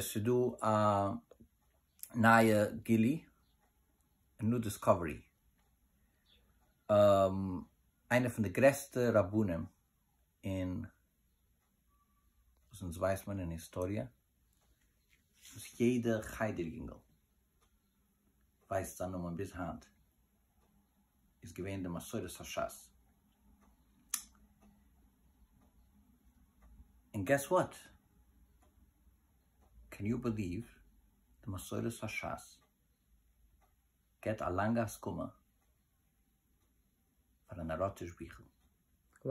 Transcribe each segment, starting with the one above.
ס'איז דא א נייע גילי' און ניו דיסקאווערי, איינע פון די גרעסטע רבנים אין וואס אונז ווייסט מען אין היסטאריע, וואס יעדע חדר יונגעל ווייסט זיין נאמען ביז היינט איז געווען די מסורת השס. און געס וואט? קען יו בעליוו די מסורת השס געט א לאנגע הסכמה פאר א נאראטיש ביכל. Wow.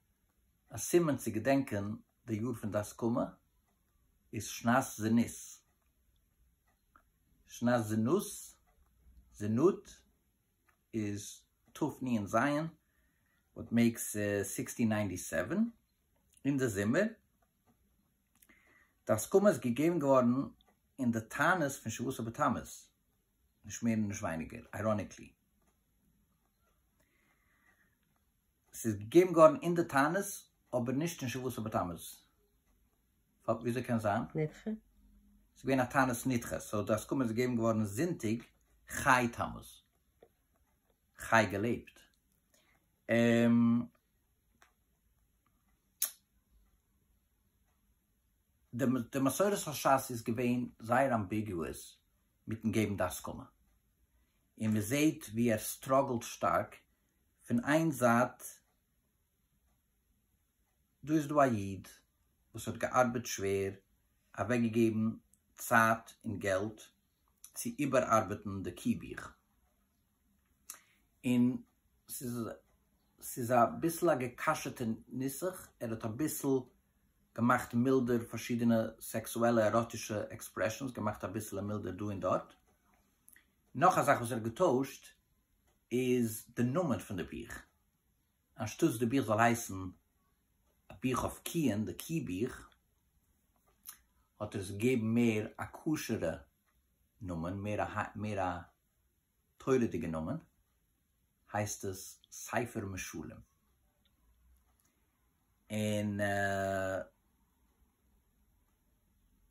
א סימן צו געדענקען די יאר פון די הסכמה איז שנת זנות, שנת זנות, זנות, איז תפני און זיין וואט מעיקס סיקסטין ניינטי סעווען, אין די זומער, די הסכמה איז געגעבן געווארן אין די תענית פון שבעה עשר בתמוז, נישט מער און נישט ווייניגער, אייראניקלי. ס'איז געגעבן געווארן אין די תענית, אבער נישט אין שבועות ובתמוז. וויאזוי קען זיין? נדחה? ס'איז געווען א תענית נדחה, סאו די הסכמה איז געגעבן געווארן זונטאג חי תמוז. חי געלעבט. די מסורת השס איז געווען זייער אמביגעוואס מיטן געבן די הסכמה, און מען זעהט ווי ער סטראגלט שטארק, פון איין זייט דא איז דא א איד וואס האט געארבעט שווער, אוועקגעגעבן צייט און געלט צו איבערארבעטן די קי בוך, און ס'איז ס'איז אביסל א געקאשעטע נוסח, ער האט אביסל געמאכט מילדער פארשידענע סעקסועלע עראטישע עקספרעשאנס, געמאכט אביסלע מילדער דא און דארט, נאך א זאך וואס ער האט געטוישט איז די נאמען פון די בוך, אנשטאטס די בוך זאל הייסן א בוך אויף קיען, די קי בוך, האט ער עס געגעבן מער א כשר'ע נאמען, מער א מער א. תורה'דיגע נאמען הייסט עס ספר משלים און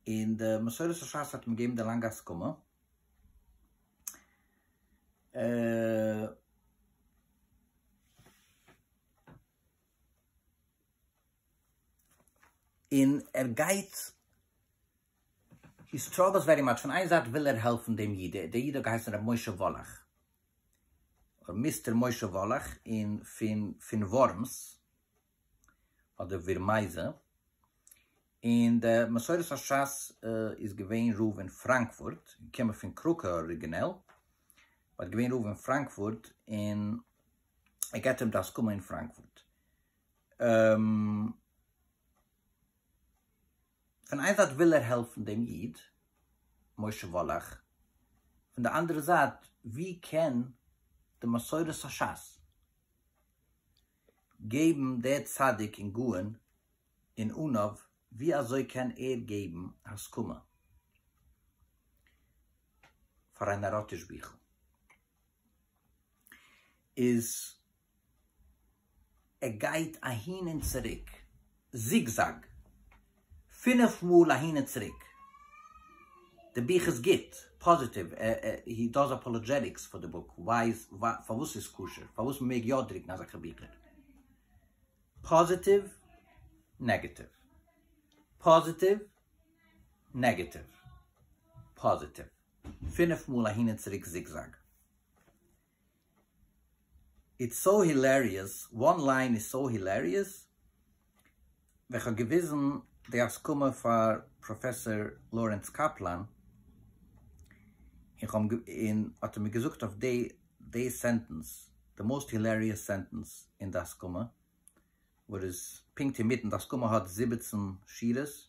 און די מסורת השס האט אים געגעבן די לאנגע הסכמה אה. און ער גייט הי סטראגעלס ווערי מאטש, פון איין זייט וויל ער העלפן דעם איד, דער איד האט געהייסן רבי משה וואלאך, אדער מיסטער משה וואלאך, און פון פון ווארמס, אדער ווירמייזע, און דער מסורת השס איז געווען רב אין פראנקפורט, געקומען פון קראקא אריגינעל, באט איז געווען רב אין פראנקפורט, און ער געבט אים די הסכמה אין פראנקפורט. פון איין זייט וויל ער העלפן דעם איד משה וואלאך, פון די אנדערע זייט ווי קען די מסורת השס געבן דער צדיק און גאון און עניו ווי אזוי קען ער געבן הסכמה פאר א נאראטיש ביכל? איז ער גייט אהין און צוריק, זיגזאג, פינף מאל אהין און צוריק. די בוך איז גוט, פאזיטיוו, הי דאז אפאלאדזשעטיקס פאר די בוק, ווייז פארוואס ס'איז כשר, פארוואס מ'מעג יא דרוקן אזעלכע ביכער. פאזיטיוו, נעגעטיוו. פאזיטיוו, נעגעטיוו. פאזיטיוו, פינף מאל אהין און צוריק זיגזאג. איטס סאו הילעריעס, וואן ליין איז סאו הילעריעס, ווען כ'האב געוויזן די הסכמה פאר פראפעסאר לארענס קאפלאן, און האט ער מיר געזאגט אויף די סענטענס, די מאוסט הילעריעס סענטענס אין די הסכמה, וואס איז פונקט אינמיטן, די הסכמה האט זיבעצן שורות,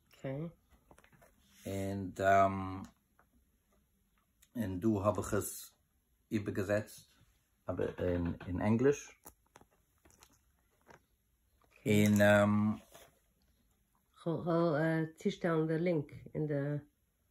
און און דא האב איך עס איבערגעזעצט אין ענגליש, און כ'וועל צושטעלן די לינק אין די.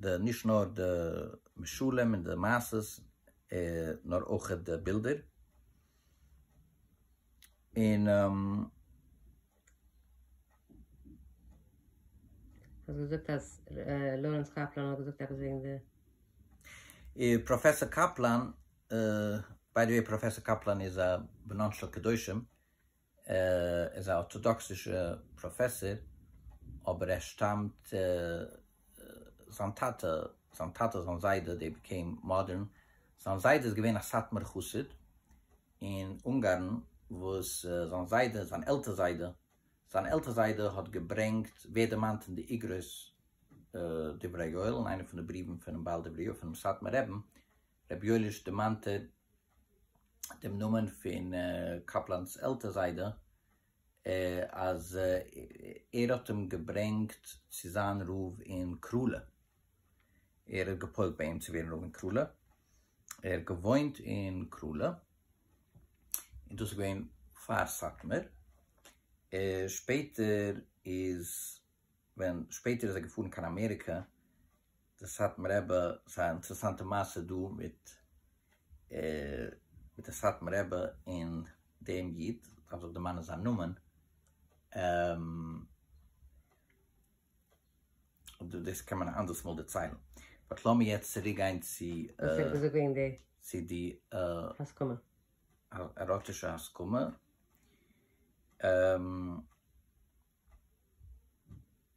די נישט נאר די משלים און די מעשות נאר אויכעט די בילדער און. האסט געזאגט אז לארענס קאפלאן האט געזאגט עפעס וועגן די. פראפעסאר קאפלאן, ביי די וועי פראפעסאר קאפלאן איז א בנן של קדושים, ער איז א ארטאדאקסישע פראפעסער אבער ער שטאמט זיין טאטע זיין טאטע זיין זיידע דעי ביקעים מאדערן זיין זיידע איז געווען א סאטמאר חסיד אין אונגארן וואס זיין זיידע זיין עלטער זיידע זיין עלטער זיידע האט געברענגט ווערט דערמאנט אין די אגרות דברי יואל אין איינע פון די בריוון פונעם בעל דברי יואל פונעם סאטמאר רעבן רבי יואליש דערמאנט ער דעם נאמען פון קאפלאן'ס עלטער זיידע אז ער האט אים געברענגט צו זיין רב אין קראלע, ער האט געפוילט ביי אים צו ווערן רב אין קראלע, ער האט געוואוינט אין קראלע, און דאס איז געווען פאר סאטמאר, שפעטער איז. ווען שפעטער איז ער געפארן קיין אמעריקע, די סאטמאר רבי, ס'איז א אינטערעסאנטע מעשה דא מיט מיט די סאטמאר רבי און דעם איד, דארף זיך דערמאנען זיין נאמען, אדער דאס קען מען א אנדערס מאל דערציילן, באט לאמיר יעצט צוריק גיין צו צו די עראטישע הסכמה.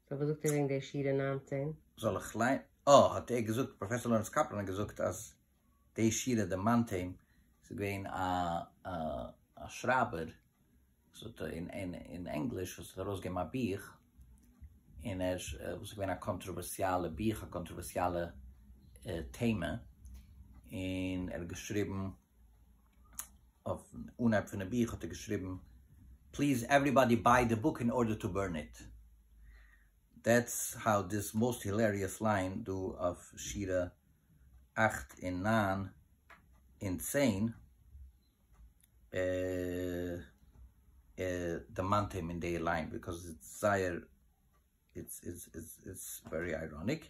סאו וואס זאגט איר וועגן די שירה נײַנצן? זאל איך ליינ. אה האט ער געזאגט פראפעסאר לאורענס קאפלאן האט געזאגט אז די שירה די מאנטעין ס'איז געווען א שרייבער וואס האט אין ענגליש וואס האט ארויסגעגעבן א בוך און ער וואס איז געווען א קאנטראווערסיאלע בוך א קאנטראווערסיאלע טעמע און ער האט געשריבן אויפן אנהייב פונעם בוך האט ער געשריבן פליז עוועריבאדי ביי די בוק אין ארדער טו בורן איט, דעטס האו דיס מאסט הילעריעס ליין דא אויף שירה אַכט און נײַן און צען דערמאנט אים אין די ליין ביקאוז איטס זייער איטס איטס איטס ווערי אייראניק.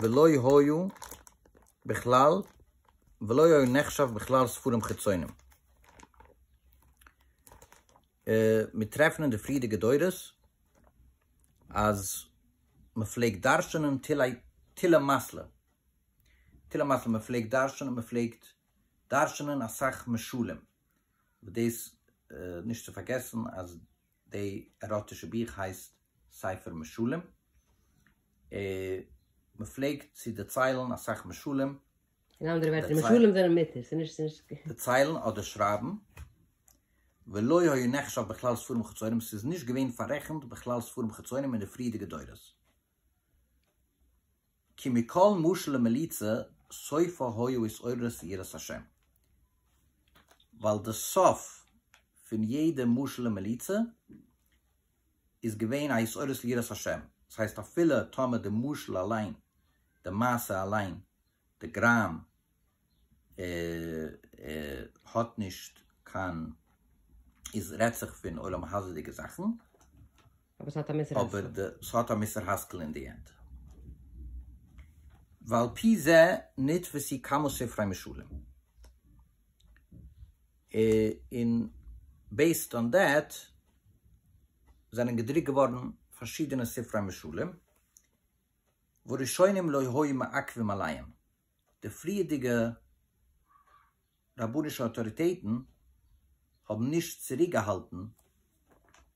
ולא היו בכלל, ולא היו נחשב בכלל ספרים חיצונים. מיר טרעפן אין די פריערדיגע דורות אז מען פלעגט דרש'נען תילה מאסלע, תילה מאסלע, מען פלעגט דרש'נען, מען פלעגט דרש'נען אסאך משלים, דאס נישט צו פארגעסן אז די עראטישע בוך הייסט ספר משלים, מען פלעגט צו דערציילן אסאך משלים, אין אנדערע ווערטער משלים זענען מותר, ס'איז נישט. דערציילן אדער שרייבן, ולא היה נחשב בכלל ספרים חיצונים, ס'איז נישט געווען פאררעכנט בכלל ספרים חיצונים אין די פריערדיגע דורות. כי מכל משל ומליצה סופו היו התעוררות ויראת השם. ווייל די סוף פון יעדע משל און מליצה איז געווען א התעוררות ליראת השם. דאס הייסט אפילו טאמער די משל אליין, די מעשה אליין, די גראם, האט נישט קיין איז רעדט זיך פון עולם הזה'דיגע זאכן אבער ס'האט א מוסר השכל אבער די ס'האט א מוסר השכל אין די ענד ועל פי זה נתפסי כמה ספרי משלים און בעיסד אן דעט זענען געדרוקט געווארן פארשידענע ספרי משלים וראשונים לא היו מעכבים עליהם. די פריערדיגע רבנישע אויטאריטעטן האבן נישט צוריקגעהאלטן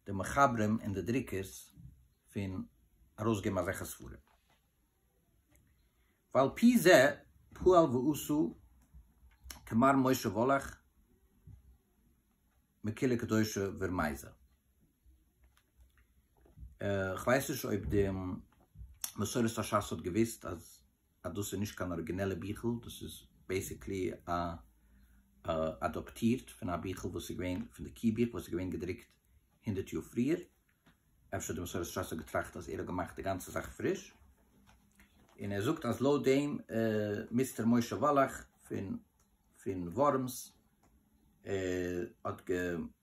די מחברים און די דרוקערס פון ארויסגעבן אזעלכע ספרים. ועל פי זה פעל ועשה כמר משה וואלאך מקהילה קדושה ורמיזה. כ'ווייס נישט אויב די מסורת השס האט געוואוסט אז אז דאס איז נישט קיין אריגינעלע ביכל, דאס איז בעיסיקלי אדאפטירט פון א ביכל וואס איז געווען פון די קי בוך וואס איז געווען געדרוקט הונדערט יאר פריער, אפשר האט די מסורת שס האט געטראכט אז ער האט געמאכט די גאנצע זאך פריש, און ער זאגט אז לויט דעם מיסטער משה וואלאך פון ווארמס האט גע.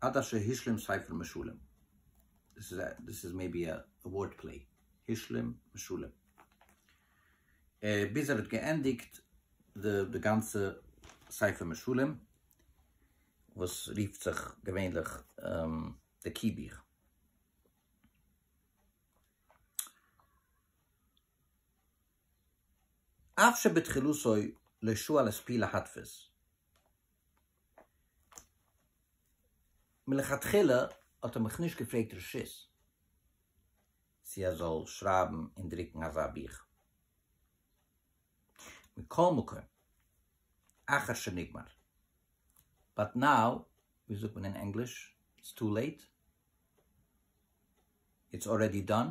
עד אשר השלים ספר משלים. דאס איז א, דאס איז מעיבי א ווארד פלעי. השלים משלים. ביז ער האט געענדיגט די די גאנצע ספר משלים, וואס רופט זיך געווענליך די קי בוך. אף שבתחילתו לא שואל את פי להדפיס. מלכתחילה האט ער מיך נישט געפרעגט רשות צו ער זאל שרייבן און דרוקן אזא בוך. מכל מקום, אחר שנגמר. באט נאו, ווי זאגט מען אין ענגליש? איטס טו לעיט? איטס ארעדי דאן?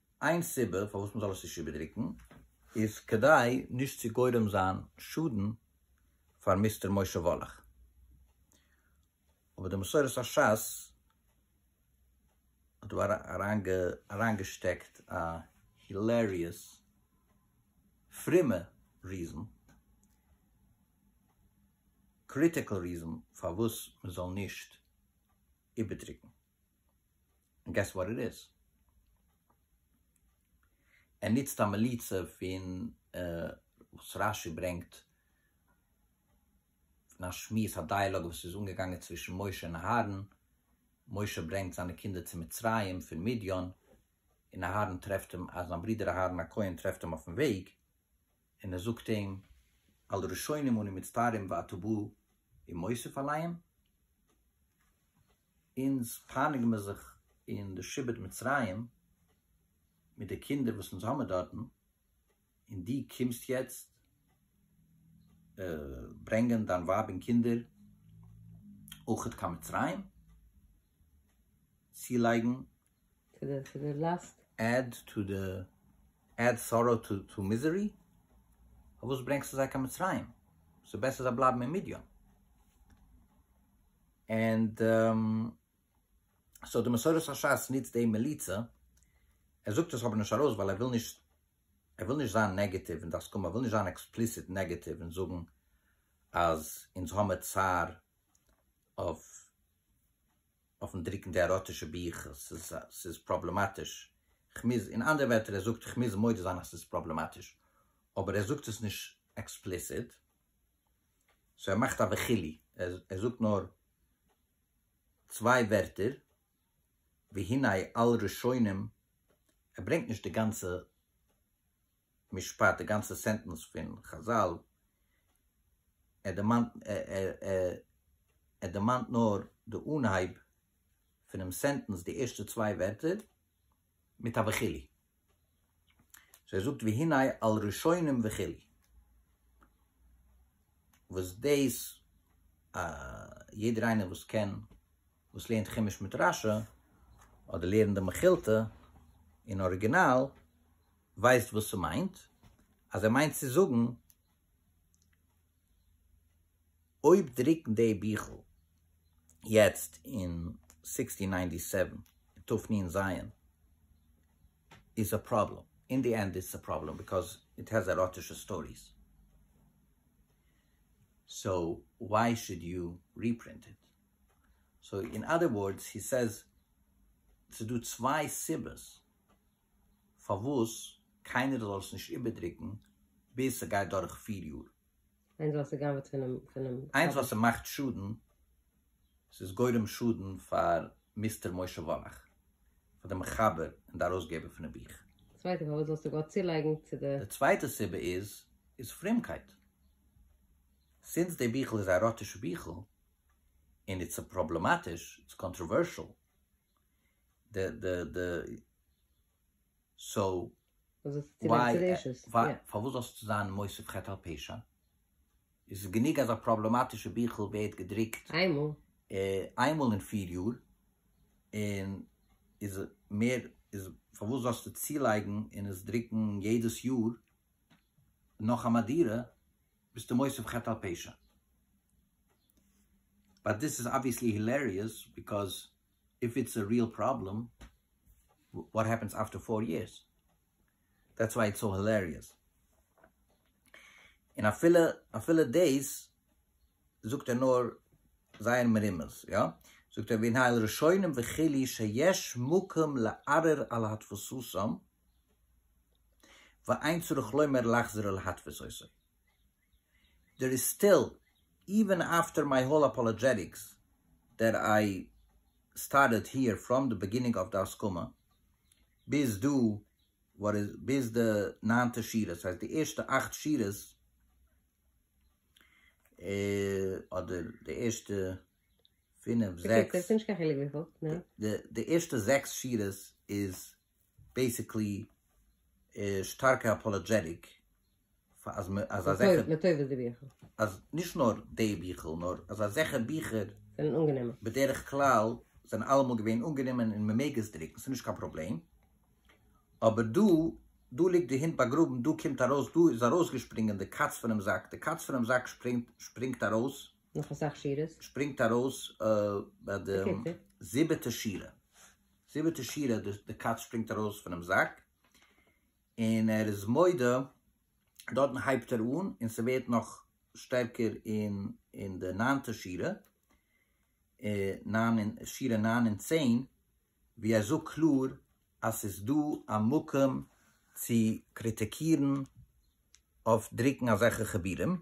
איין סיבה פארוואס מ'זאל עס נישט איבערדרוקן איז כדי נישט צו גורם זיין שאדן פאר מיסטער משה וואלאך, אבער די מסורת השס האט דא אריינגעשטעקט א הילעריעס פרומע ריזען, קריטיקעל ריזען, פארוואס מ'זאל נישט איבערדרוקן. און געס וואט איט איז? ער נוצט א מליצה פון וואס רש י ברענגט פון א שמועס א דייעלאג וואס איז אנגעגאנגען צווישן משה און אהרן, משה ברענגט זיינע קינדער צו מצרים פון מדיין, און אהרן טרעפט אים, זיין ברודער אהרן הכהן טרעפט אים אויפן וועג, און ער זאגט אים על ראשונים אני מצטער אם ואתה בא עם מוסיף עליהם. אונז פייניגן מיר זיך אין די שבט מצרים מיט די קינדער וואס אונז האמיר דארטן, און דו קומסט יעצט ברענגען דיין ווייב און קינדער אויכעט קיין מצרים צולייגן טו די טו די ליסט. עד טו די עד סארא טו טו מיזערי? פארוואס ברענגסטו זיי קיין מצרים? ס'איז בעסער זיי בלייבן אין מדיין. ענד סאו די מסורת השס נוצט דעם מליצה, ער זאגט עס אבער נישט ארויס ווייל ער וויל נישט ער וויל נישט זיין נעגעטיוו אין די הסכמה, ער וויל נישט זיין עקספליסיט נעגעטיוו און זאגן אז אונז האמער צער אויף אויפן דרוקן די עראטישע בוך, ס'איז ס'איז פראבלעמאטיש, כ'מוז, אין אנדערע ווערטער ער זאגט כ'מוז מודה זיין אז ס'איז פראבלעמאטיש, אבער ער זאגט עס נישט עקספליסיט, סאו ער מאכט א וכולי, ער זאגט נאר צוויי ווערטער, והנה על ראשונים, ער ברענגט נישט די גאנצע. משפט, די גאנצע סענטענס פון חזל, ער דערמאנט ער דערמאנט נאר די אנהייב פונעם סענטענס, די ערשטע צוויי ווערטער, מיט א וכו'. סאו ער זאגט והנה על ראשונים וכו'. וואס דאס יעדער איינער וואס קען, וואס לערנט חומש מיט רשי, אדער לערנט די מכילתא אין אריגינאל, ווייסט וואס ס'מיינט? אז ער מיינט צו זאגן, אויב דרוקן די ביכל יעצט אין סיקסטין ניינטי סעווען אין תפנין ז' איז א פראבלעם. אין די ענד איז עס א פראבלעם ביקאוז איט העז עראטישע סטאריס. סאו וואי שוד יו ריפרינט איט? סאו אין אדער ווארדס הי סעז ס'איז דא צוויי סיבות. פארוואס קיינער זאל עס נישט איבערדרוקן ביז ס'גייט דורך פיר יאר. איינס ווייל ס'גנב'ט פונעם. איינס ווייל ס'מאכט שאדן, ס'איז גורם שאדן פאר מיסטער משה וואלאך, פאר די מחבר און די ארויסגעבער פונעם בוך. צווייטע, פארוואס זאלסטו גאר צולייגן צו די. די צווייטע סיבה איז, איז פרומקייט. סינס די ביכל איז א ראטישע ביכל, און איטס פראבלעמאטיש, איטס קאנטראווערשעל, די די די סאו וויי פארוואס זאלסטו זיין מוסיף חטא על פשע? עס איז גענוג אז א פראבלעמאטישע ביכל ווערט געדרוקט איינמאל אין פיר יאר און איז מער איז פארוואס זאלסטו צולייגן און עס דרוקן יעדעס יאר נאך א מהדורה ביסטו מוסיף חטא על פשע. באט דיס איז אבוויעסלי הילעריעס ביקאוז איף איטס א ריעל פראבלעם וואט העפענס אפטער פאר יערס? דעטס וויי איטס סאו הילעריעס. און אפילו אפילו דאס זאגט ער נאר זייער מרומז, יא? זאגט ער, והנה אל ראשונים וכו' שיש מקום לערער על התפסותם, ואין צריך לומר להחזירה להתפסותו. דער איז סטיל, איווען אפטער מיי האול אפאלעדזשעטיקס דעט איי סטארטעד היער פראם די בעגינינג אוו די הסכמה ביז דא ביז די ניינטע שורות, דאס הייסט די ערשטע אכט שורות אדער די ערשטע פינף זעקס, די ערשטע זעקס שורות איז בעיסיקלי שטארקע אפאלאדזשעטיק פאר אז מע אז אזעלכע לטובת די ביכער אז נישט נאר די ביכער נאר אז אזעלכע ביכער זענען אנגענומען בדרך כלל זענען אלעמאל געווען אנגענומען און מען מעג עס דרוקן ס'איז נישט קיין פראבלעם אבער דא דא ליגט די הונט באגראבן דא קומט ארויס דא איז ארויסגעשפרינגען די קאץ פונעם זאק די קאץ פונעם זאק שפרינגט שפרינגט ארויס נאך אסאך שורות שפרינגט ארויס ביי די זיבעטע שורה. זיבעטע שירה, די קאץ שפרינגט ארויס פונעם זאק, און ער איז מודה, דארטן הייבט ער אן, און ס'ווערט נאך שטערקער אין די ניינטע שירה, שירה נײַן און צען, ווי ער זאגט קלאר אז ס'איז דא א מקום צו קריטיקירן אויף דרוקן אזעלכע חיבורים,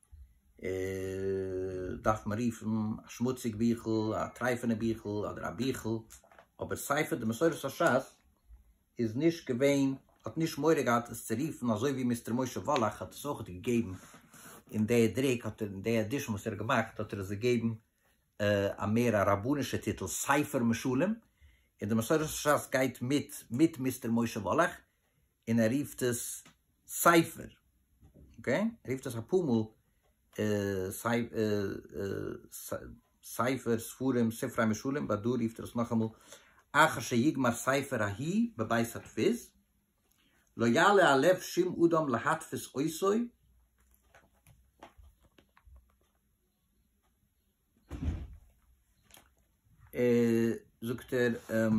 דארף מען רופן א שמוציג ביכל, א טרייפענע ביכל, אדער א ביכל, אבער ספר די מסורת השס איז נישט געווען, האט נישט מורא געהאט עס צו רופן, אזוי ווי מיסטער משה וואלאך האט עס אויך געגעבן אין די דריק, האט ער אין די עדישן וואס ער האט געמאכט האט ער עס געגעבן א מער א רבנישע טיטל, ספר משלים, און די מסורת השס גייט מיט מיט מיסטער משה וואלאך, און ער רופט עס ספר, אקעי? ער רופט עס אפאר מאל ספר, ספרים, ספרי משלים, באט דא רופט ער עס נאכאמאל אחר שיגמר ספר ההיא בבית הדפוס, לא יעלה על לב שום אדם להדפיס עושו, זאגט ער,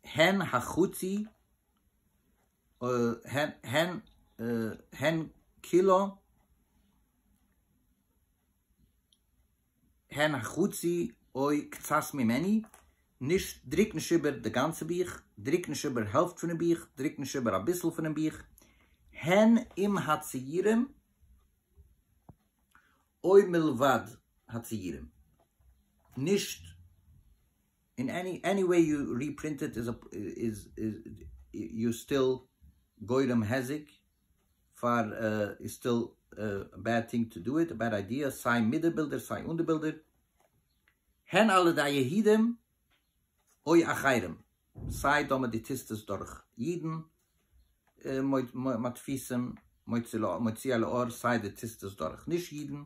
הן החצי הן כולו הן החצי אוי קצת ממני, נישט דריק נישט איבער די גאנצע בוך, דריק נישט איבער העלפט פונעם בוך, דריק נישט איבער אביסל פונעם בוך, הן עם הציורים אוי מלבד הציורים, נישט. אין עני עני וועי יו ריפרינט איט איז איז יו סטיל גורם היזק פאר איז סטיל בעד טינג טו דו איט בעד איידיע סיי מיט די בילדער סיי אן די בילדער הן על ידי יהידים אוי אחרים סיי טאמער די טיסט עס דורך אידן מדפיסים מוציא לאור סיי די טיסט עס דורך נישט אידן.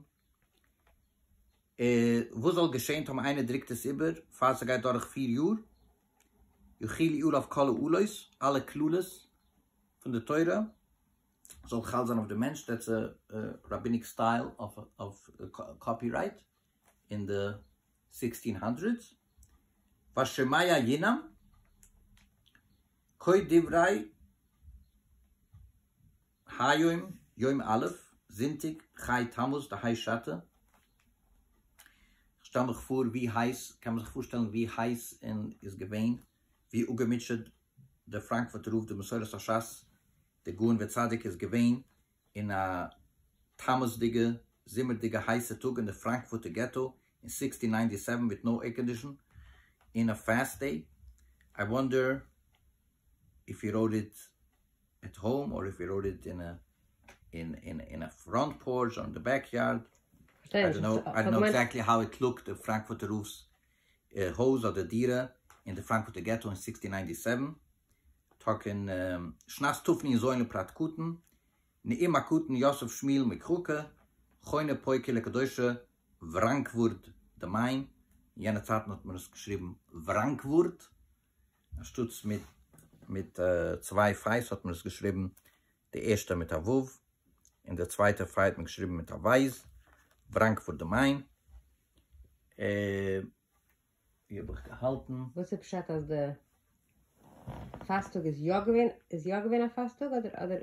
וואס זאל געשען טאמער איינער דרוקט עס איבער פאר ס'גייט דורך פֿיר יאר? יחיל יאל אויף כל העלות, אלע קללות פון די תורה זאל חל זיין אויף די מענטש, דעטס ראביניק סטייל אויף קאפי רייט אין די סיקסטין האנדרעדס, והשמיה ינעם, קויט דברי. היום יום א', זונטאג, ח' תמוז, די הייס שאטע, איך שטעל מיך פאר ווי הייס, קען מען זיך פארשטעלן ווי הייס און איז געווען, ווי אפגעמוטשעט די פראנקפורטער רב די מסורת השס דער גאון וצדיק איז געווען אין א תמוז'דיגע זומער'דיגע הייסע טאג אין די פראנקפורטער געטא אין סיקסטין ניינטי סעווען מיט נאו עירקאנדישאן אין א פעסט דעי, איי וואנדער איף הי ראוט איט. עט האום אר איף ווי ראוט איט אין אין א פראנט פארטש אר אין די בעק יארד, איי דאנט נאו איי דאנט נאו עקזעקטלי האו איט לוקט די פראנקפורטער רב'ס הויז אדער דירה אין די פראנקפורטער געטא אין סיקסטין ניינטי סעווען, תק אין שנת תפני זוין לפרת קטן נעים הקטן יוסף שמיל מקראקע חונה פויקע לקדושה וראנקווארד די מיין, אין יענע צייטן האט מען עס געשריבן וראנקווארד. אנשטאטס מיט מיט צוויי פיי'ס האט מען עס געשריבן די ערשטע מיט א ו' און די צווייטע פיי האט מען געשריבן מיט א ו', בראנקפורט דעם איין. אה. ווי האב איך געהאלטן? וואס איז פשט אז די פאסטאג איז יא געווען איז יא געווען א פאסטאג אדער אדער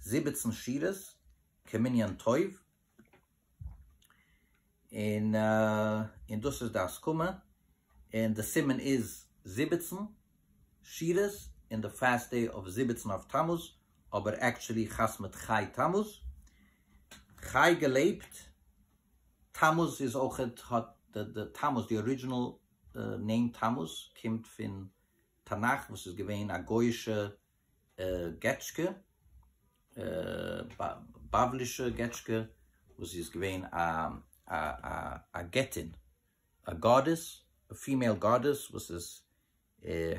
זיבעצן שורות כמנין טוב, און און דאס איז די הסכמה, און די סימן איז זיבעצן שורות, און די פעסט דעי אויף זיבעצן אויף תמוז, אבער עקטשולי חתמ מיט חי תמוז, חי געלעבט, תמוז איז אויך האט די תמוז די ארידזשינעל נעים תמוז קומט פון תנך וואס איז געווען א גויאישע געטשקע, בבלישע געטשקע, וואס זי איז געווען א געטין, א גאדעס, א פימעיל גאדעס, וואס איז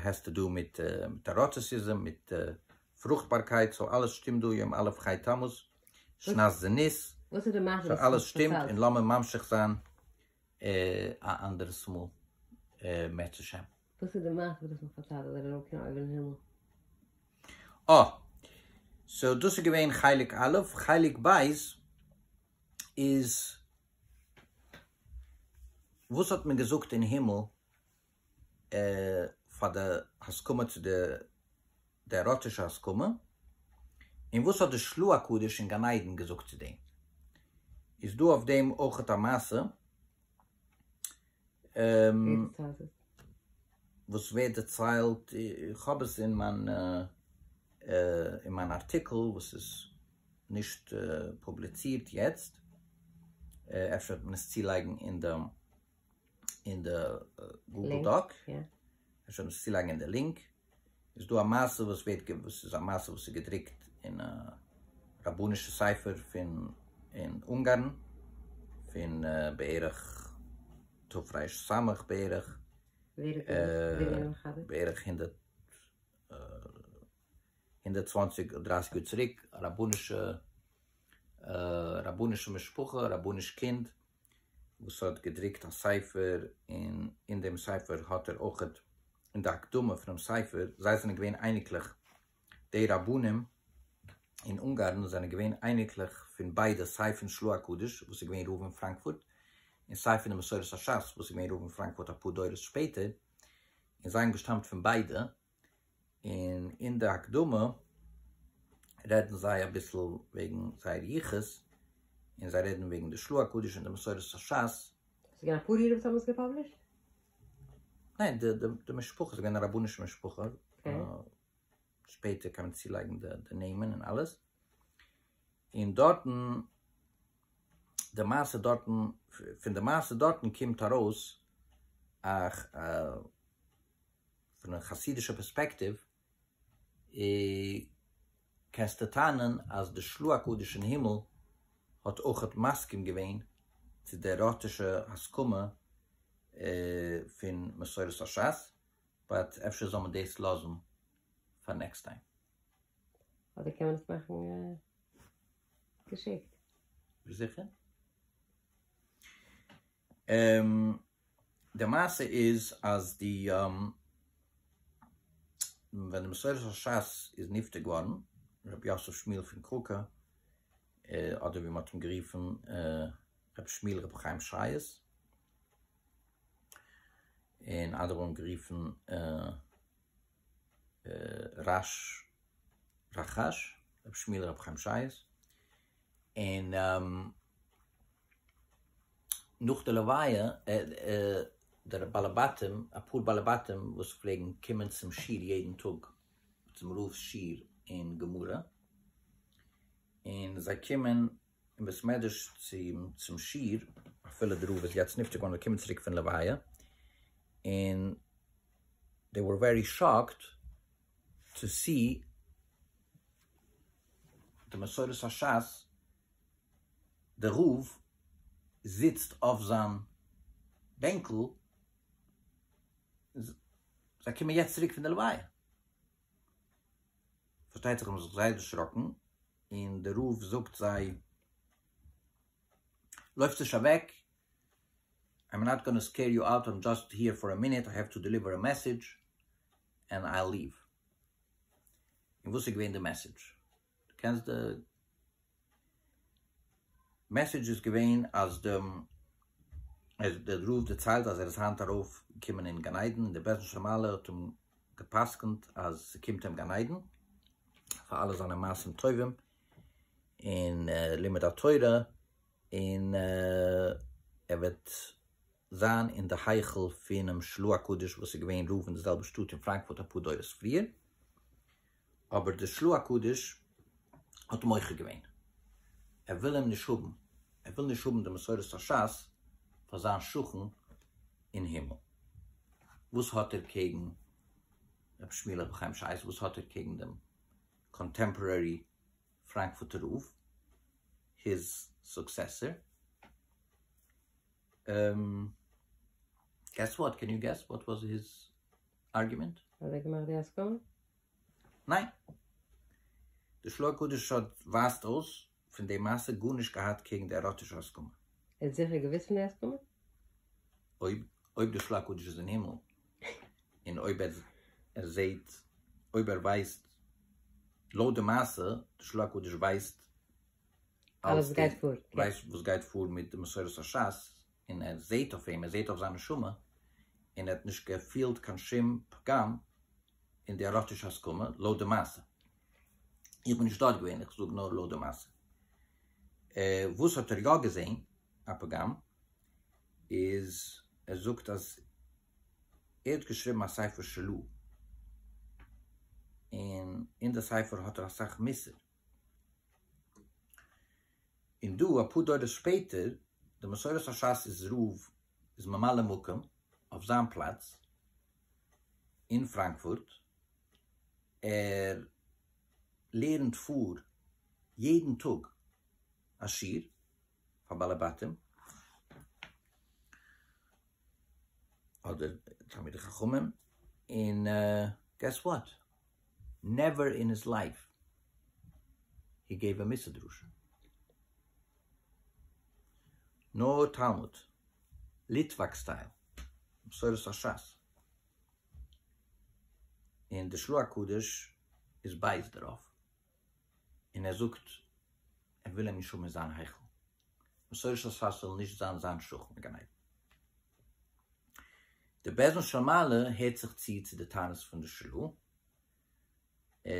האסט צו דא מיט עראטיסיזם, מיט פרוכטבארקייט, סאו אלעס שטימט דא, יום א' חי תמוז, שנת זה ניס, סאו אלעס שטימט, און לאמיר ממשיך זיין א אנדערעס מאל בעזהשי ת. וואס איז די מעשה וואס דו האסט מיך פארציילט אז ער איז ארויף קיין אויבערן הימל? אה! סאו דאס איז געווען חלק א', חלק ב' איז וואס האט מען געזאגט אין הימל פאר די הסכמה צו די די עראטישע הסכמה, און וואס האט די שלו' הקדוש אין גן עדן געזאגט צו דעם? איז דא אויף דעם אויכעט א מעשה וואס ווערט דערציילט, איך האב עס אין מיין אין מיין ארטיקל וואס איז נישט פובליצירט יעצט, אפשר וועט מען עס צולייגן אין די אין די גוגל דאק, אפשר וועט מען עס צולייגן אין די לינק. איז דא א מעשה וואס ווערט גע וואס איז א מעשה וואס איז געדרוקט אין א רבנישע ספר פון אין אונגארן פון בערך תרפ ס בערך ווער האט עס ווער איז געווען מחבר? בערך הונדערט הונדערט צוואנציג דרייסיג יאר צוריק א רבנישע רבנישע משפחה רבניש קינד. וואס האט געדרוקט א ספר און אין דעם ספר האט ער אויך אין די הקדמה פונעם ספר, זיי זענען געווען אייניקלעך, די רבנים אין אונגארן זענען געווען אייניקלעך פון ביידע סיי פון שלו' הקדוש וואס איז געווען רב אין פראנקפורט און סיי פון די מסורת השס וואס איז געווען רב אין פראנקפורט אפאר דורות שפעטער און זיי האבן געשטאמט פון ביידע. און אין די הקדמה רעדן זיי אביסל וועגן זייער יחוס, און זיי רעדן וועגן די שלו' הקדוש און די מסורת השס. ס'געווען אפאר אירע וואס האבן עס געפאבלישט? ניין, די די משפחה, ס'געווען א רבנישע משפחה, שפעטער קען מען צולייגן די נעמען און אלעס, און דארטן, די מעשה דארטן, פון די מעשה דארטן קומט ארויס א. פון א חסידישע פערספעקטיוו קענסטו טענה'ן אז די שלוה הקדוש אין הימל האט אויכעט מסכים געווען צו די עראטישע הסכמה פון מסורת השס, באט אפשר זאל מען דאס לאזן פאר נעקסט טיים. אדער קען מען עס מאכן געשיקט. זיכער. די מעשה איז אז די ווען די מסורה של שס איז נפטר געווארן ר' יוסף שמואל פון קראקא אדער ווי מען האט אים גערופן ר' שמואל ר' חיים שייעס און אדער האבן גערופן רש רחש ר' שמואל ר' חיים שייעס און נאך די לוויה, די בעלי בתים, אפאר בעלי בתים וואס פלעגן קומען צום שיעור יעדן טאג, צום רב'ס שיעור אין גמרא, און זיי קומען אין בית מדרש צום שיעור, אפילו די רב איז יעצט נפטר געווארן, זיי קומען צוריק פון לוויה, און דעי ווער ווערי שאקד טו סי די מסורת השס, דער רב זיצט אויף זיין בענקל, זיי קומען יעצט צוריק פון די לוויה, פארשטייט זיך זיי האבן זיך זייער דערשראקן, און דער רב זאגט זיי, לויפטס נישט אוועק, איים נאט גאנא סקעיר יו אוט, איים דזשאסט היער פאר א מינוט, איי העוו טו דעליווער א מעסעדזש, ענד איי וויל ליוו. און וואס איז געווען די מעסעדזש? דו קענסט די מעסעדזש איז געווען אז די אז דער רב דערציילט אז ער איז היינט ארויף געקומען אין גן עדן און דער בעש ט שרמאלע האט אים גע'פסק'נט אז ס'קומט אים גן עדן פאר אלע זיינע מעשים טובים און לימוד התורה און ער וועט זיין אין די היכל פונעם של ה הקדוש וואס איז געווען רב אין די זעלבע שטאט אין פראנקפורט אפאר דורות פריער. אבער דער של ה הקדוש האט אים מוחה געווען, ער וויל אים נישט האבן, ער וויל נישט האבן די מסורת השס פאר זיין שכן אין הימל. וואס האט ער קעגן רבי שמואל אב ד חיים שייס? וואס האט ער קעגן דעם קאנטעמפארערי פראנקפורטער רב, היז סוקסעסער? געס וואט? קען יו געס וואט וואס היז ארגומענט? האט ער געמאכט די הסכמה? ניין. די שלא הקדוש האט ווייזט אויס פון די מעשה גארנישט געהאט קעגן די עראטישע הסכמה. ער האט זיכער געוואוסט פון די הסכמה? אויב אויב די שלא הקדוש איז אין הימל און אויב ער ער זעהט אויב ער ווייסט לויט די מעשה די שלא הקדוש ווייסט אלעס וואס גייט פאר מיט די מסורת השס און ער זעהט אויף אים, ער זעהט אויף זיין נשמה, און ער האט נישט געפילט קיין שום פגם אין די עראטישע הסכמה, לויט די מעשה. איך בין נישט דארט געווען, איך זאג נאר לויט די מעשה. וואס האט ער יא געזעהן א פגם, איז ער זאגט אז ער האט געשריבן א ספר שלו, און אין די ספר האט ער אסאך מוסר. און דא אפאר דורות שפעטער, די מסורת השס איז רב איז ממלא מקום אויף זיין פלאץ אין פראנקפורט, ער לערנט פאר יעדן טאג א שיעור פאר בעלי בתים, אדער תלמידי חכמים, און געס וואט? נעווער אין היס לייף הי געיוו א מוסר דרשה. נאר תלמוד, ליטוואק סטייל, מסורת השס. און די שלוה הקדוש איז בייז דערויף, און ער זאגט ער וויל אים נישט האבן אין זיין היכל. בשורש אז פאסט זאל נישט זיין זיין שכן אין גן עדן. די בעזעם של מעלה הערט זיך צו צו די טענות פון די של ה,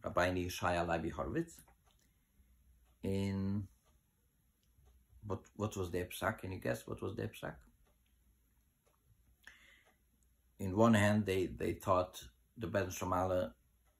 רבינו ישעי' הלוי הורוויץ, און וואט וואס דער פסק, קען יו געס וואט וואס דער פסק? אין וואן הענד דעי טאט די בעזעם של מעלה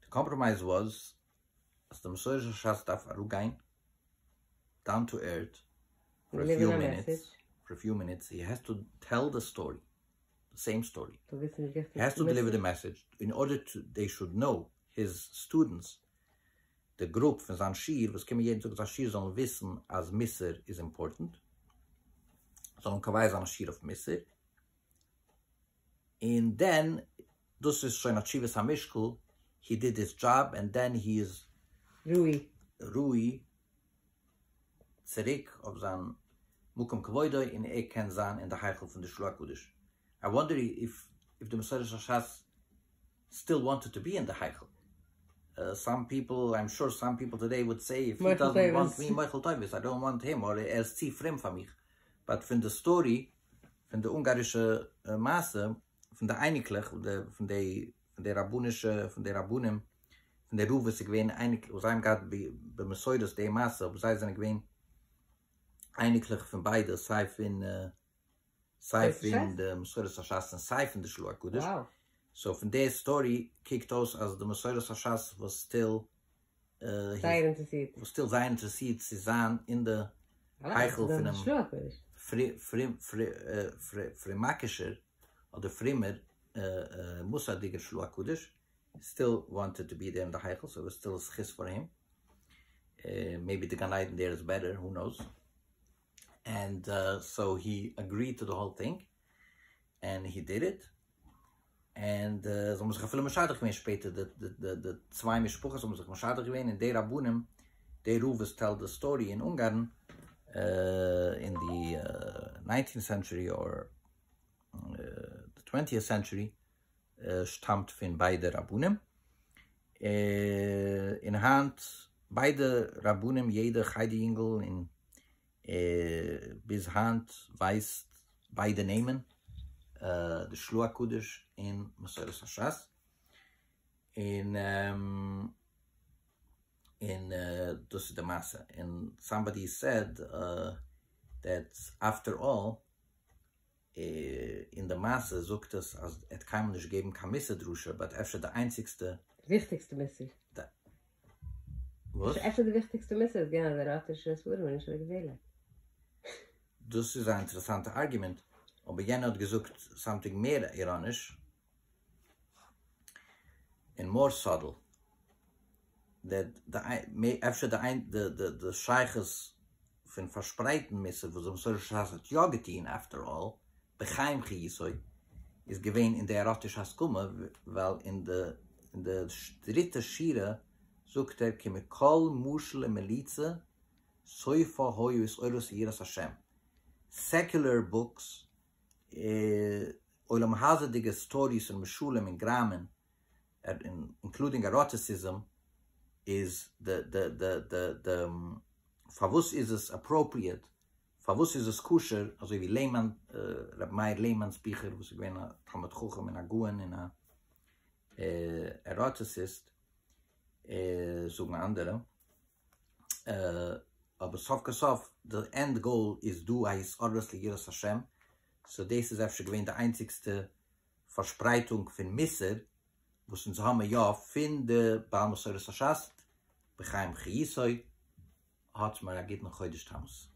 די קאמפראמייז וואס אז די מסורה של שס דארף אראפגיין דאון טו ערט פאר א פיו מינוטס, פאר א פיו מינוטס, יו העז טו טעל די סטארי, די סעים סטארי, יו העז טו דעליווער די מעסעדזש, אין ארדער טו דעי שוד נאו, היז סטודענטס, די גרופ פון זיין שיעור וואס קומען יעדן טאג אין זיין שיעור זאלן וויסן אז מוסר איז אימפארטענט, זאלן קובע זיין א שיעור אויף מוסר. און דען דאס איז שוין א תשובת המשקל, הי דיד היז דזשאב ענד דען הי איז ראוי ראוי צוריק אויף זיין מקום כבודו און ער קען זיין אין די היכל פון די שלוה הקדוש, איי וואנדער איף איף די מסורת השס סטיל וואנטעד טו בי אין די היכל, סאם פיפל איים שור סאם פיפל טודעי וואלד סעי איף הי דאזענט וואנט מי מוחל טובות איי דאנט וואנט הים אדער ער איז צו פרום פאר מיך, באט פון די סטארי פון די אונגארישע מעשה פון די אייניקלעך פון די פון די רבנישע פון די רבנים פון די רב וואס איז געווען אייניק וואס זיי האבן געהאט במסורת די מעשה אבער זיי זענען געווען אייניקלעך פון ביידע סיי פון סיי פון די מסורת השס און סיי פון די שלו' הקדוש סאו פון די סטארי קוקט אויס אז די מסורת השס וואס סטיל זייער אינטערעסירט. וואס טוט זייער אינטערעסירט צו זיין אין די היכל פונעם פרומאקישער אדער פרומער מוסר'דיגער של ה הקדוש, סטיל וואנטעד טו בי דער אין די היכל, סאו סטיל זכות פאר אים, מעיבי די גן עדן דער איז בעטער, הו נאוס. ענד סאו הי אגריד טו די האול טינג ענד הי דיד איט ענד זיי האבן זיך אפילו משדך געווען שפעטער די צוויי משפחות האבן זיך משדך געווען און די רבנים די רב וואס טעלט די סטארי אין אונגארן אין די ניינטינט סענטשורי אר די טווענטיעט סענטשורי שטאמט פון ביידע רבנים, און היינט ביידע רבנים יעדע חדר יונגעל און ביז היינט ווייסט ביידע נעמען, די שלו' הקדוש און מסורת השס, און און דאס איז די מעשה, און סאמבאדי סעד דעט אפטער אלל. אין די מעשה זאגט עס אז ער האט קיינמאל נישט געגעבן קיין מוסר דרשה באט אפשר די איינציגסטע. וויכטיגסטע מוסר. וואס? אפשר די וויכטיגסטע מוסר איז געווען אז ער האט נישט נישט וועלן נישט אוועק וועלן. דאס איז א אינטערעסאנטע ארגומענט, אבער יענער האט געזאגט סאמטינג מער איראניש, און מאר סאדל, אפשר די שייכות פון פארשפרייטן מסר וואס די מסורה של שס האט יא געטון, אפטער אלל, בחיים חיותו, איז געווען אין די עראטישע הסכמה, ווייל אין די דריטע שורה זאגט ער כי מכל משל ומליצה סופו היו איסורות יראת השם, סעקולער בוקס עולם הזה'דיגע סטאדיס און משלים און גראמען, אינקלודינג עראטיסיזם, איז די פארוואס איז עס אפראפריעט, פארוואס איז עס כשר, אזוי ווי לעמאן, ר' מאיר לעמאן'ס ביכער וואס איז געווען א תלמיד חכם און א גאון און א עראטיסיסט, זאגן אנדערע. אבער סוף כל סוף די ענד גאול איז דא א התעוררות ליראת השם, סאו דאס איז אפשר געווען די איינציגסטע פארשפרייטונג פון מוסר וואס אונז האבן יא פון די בעל מסורת השס ת בחיימך יסוד, האטס מיר א גוטן חודש תמוז.